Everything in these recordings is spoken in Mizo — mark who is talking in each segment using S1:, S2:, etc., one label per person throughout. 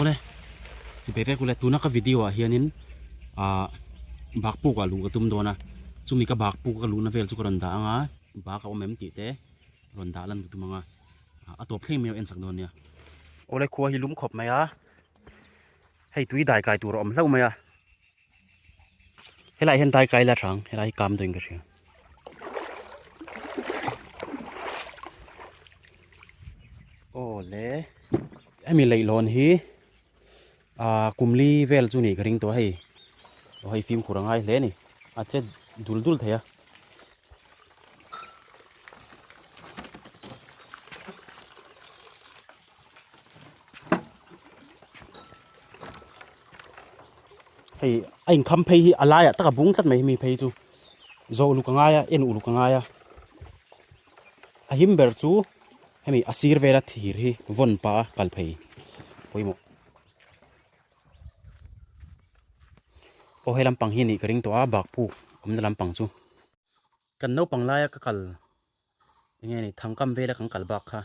S1: ole chi bek bek ule tuna ka video ah hianin a bak puk a lu ka tum dona chumi ka bak puk ka lu na vel chu ka rawn dah anga bak a awm em tih te rawn dah lan ka tum anga a top thleng mai en sak don nia ole khua hi lum khawp mai a hei tui dai kai tur a awm hlauh mai a helai hian tai kai la hrang helai hi kam dawin ka hria aw le hemi leihlawn hi a kumli vel chu nih ka ring tawh hei aw hei fimkhur angai hle ni a che dul dul thei a hei a inkham phei hi a laiah taka bung tlat mai hemi phei chu zo uluk a ngai a en uluk a ngai a a him ber chu hemi a sir vela thir hi vawn pa a kal phei pawimawh aw he lampang hi anih ka ring tawh a bakpuk awmna lampang chu kan naupang laia ka kal. Enge a ni, thangkam vela kan kal bak kha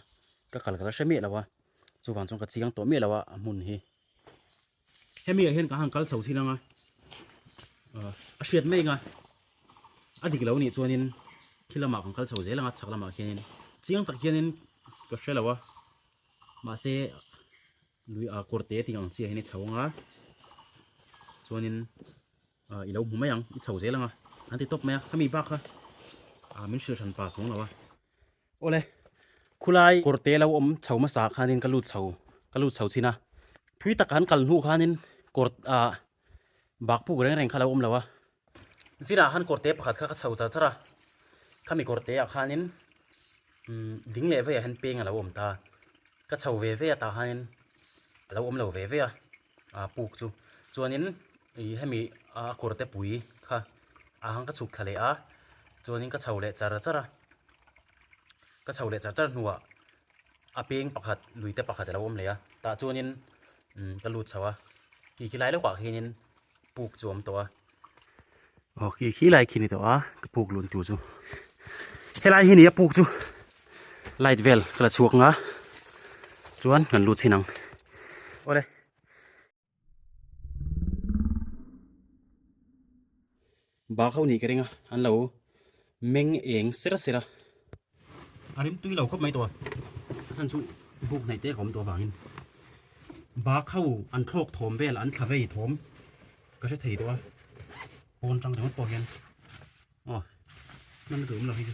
S1: ka kal ka la hre miah lo a, chuvang chuan ka chiang tawh miah lo a a hmun hi. Hemi ah hian ka han kal chho thin ang a, a hriat mai nga a dik lo nih chuanin khi lamah kan kal chho zel ang a, chhak lamah khianin chiang tak hianin ka hre lo a, mahse lui a kawrte tih ang chiahin i chho ang a, chuanin. i lo hmu mai ang i chho zel anga an ti tawp mai a khami bak kha a min hrilhran pa chung lo a ole khulai korte lo om chho ma sa khanin ka lut chho ka lut chho china thui tak han kal hnu khanin kort a bak puk reng reng kha lo om lo a zira han korte pakhat kha ka chho char chara khami korte a khanin ding leh veiah hian peng a lo awm ta a ka chho ve ve atah hianin a lo awm lo ve ve a aa puk chu chuanin ih hemi a kawrte pui kha a ang ka chhuk thla leh a chuanin ka chho leh char char a ka chho leh char char hnuah a peng pakhat lui te pakhat a lo awm leh a tah chuanin ka lut chho a tih ti lai lawkah hianin. puk chuam tawh a aw khi khi lai khi ni tawh a ka puk lun tur chu helai hi nia puk chu light vel ka la chhuak nga chuan kan lu chin ang ole Bak ho nih ka ring a, an lo meng eng sera sera. A rim tui lo khawp mai tawh a, a then chu buk hnaih tek a awm tawh avangin bak ho an thlawk thawm vel an thla vei thawm ka hre thei tawh a, pawn tang ringawt pawh hian aw hmanna tur awm lo hi chu.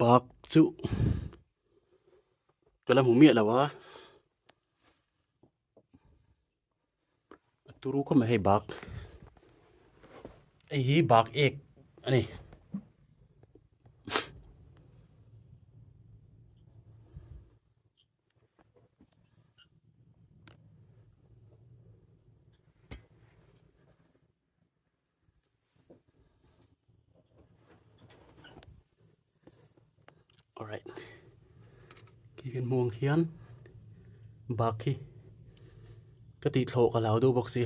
S1: bak chu ka la hmu miah lo a a turu khawp mai hei bak hei hi bak ek a ni alright khi kan hmuh ang khian bak khi ka tih thlawh ka lau deuh bawk si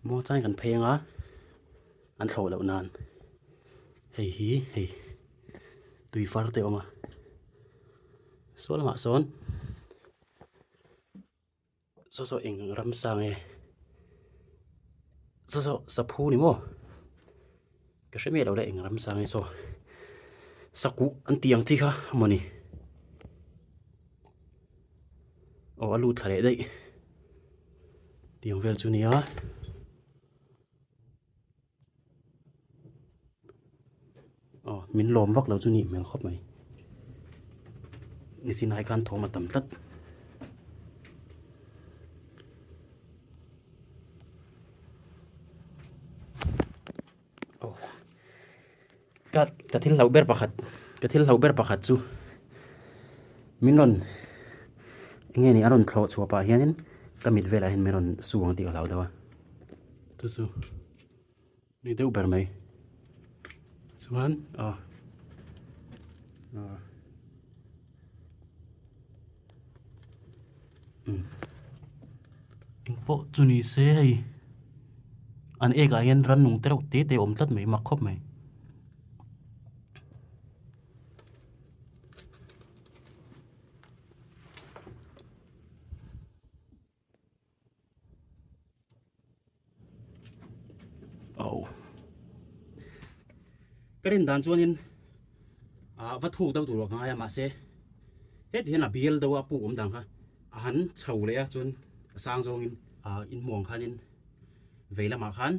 S1: maw tlai kan phei anga an thlawh loh nan hei hi hei tui far te awm a saw lamah sawn Saw saw eng ram sang e. Saw saw saphu ni mo. Ka hre mi lo le eng ram sang e saw. Saku an tiang chi kha moni. O alu thale dai. Tiang vel chu nia. aw min lawm vak lo chu nih hmel khawp mai ni chin ai khan thawm a tam tlat aw. Ka ka thil hlauh ber pakhat ka thil hlauh ber pakhat chu min rawn nge ni a rawn thlawh chhuah pah hianin ka mit velah hian min rawn su ang tih ka hlau deuh a chu chu ni deuh ber mai chuan a ah, ah. eng pawh chu ni se hei an ek ah hian rannung te reuh te te awm tlat mai mak khawp mai. Au. Ka rin dan chuanin a va thuk deuh tur a ngai a mahse heti hian a bial deuh a puk awm dan kha a han chho leh a chuan a sang zawngin a in hmuang khanin vei lamah khan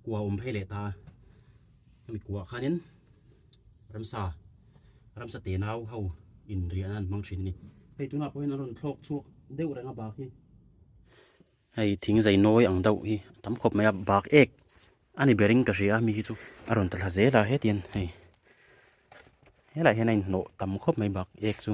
S1: kua awm phei leh ta a mi kuah khanin ramsa ramsa te nau ho in rian an hmang thin ni hei tuna pawhin an rawn thlawk chhuak deuh reng a bak hi hei thing zai nawi ang deuh hi tam khawp mai a bak ek ani bering ka hria mi hi chu a rawn ta thla zel a hetian hei helai hian a in hnawh tam khawp mai bak ek chu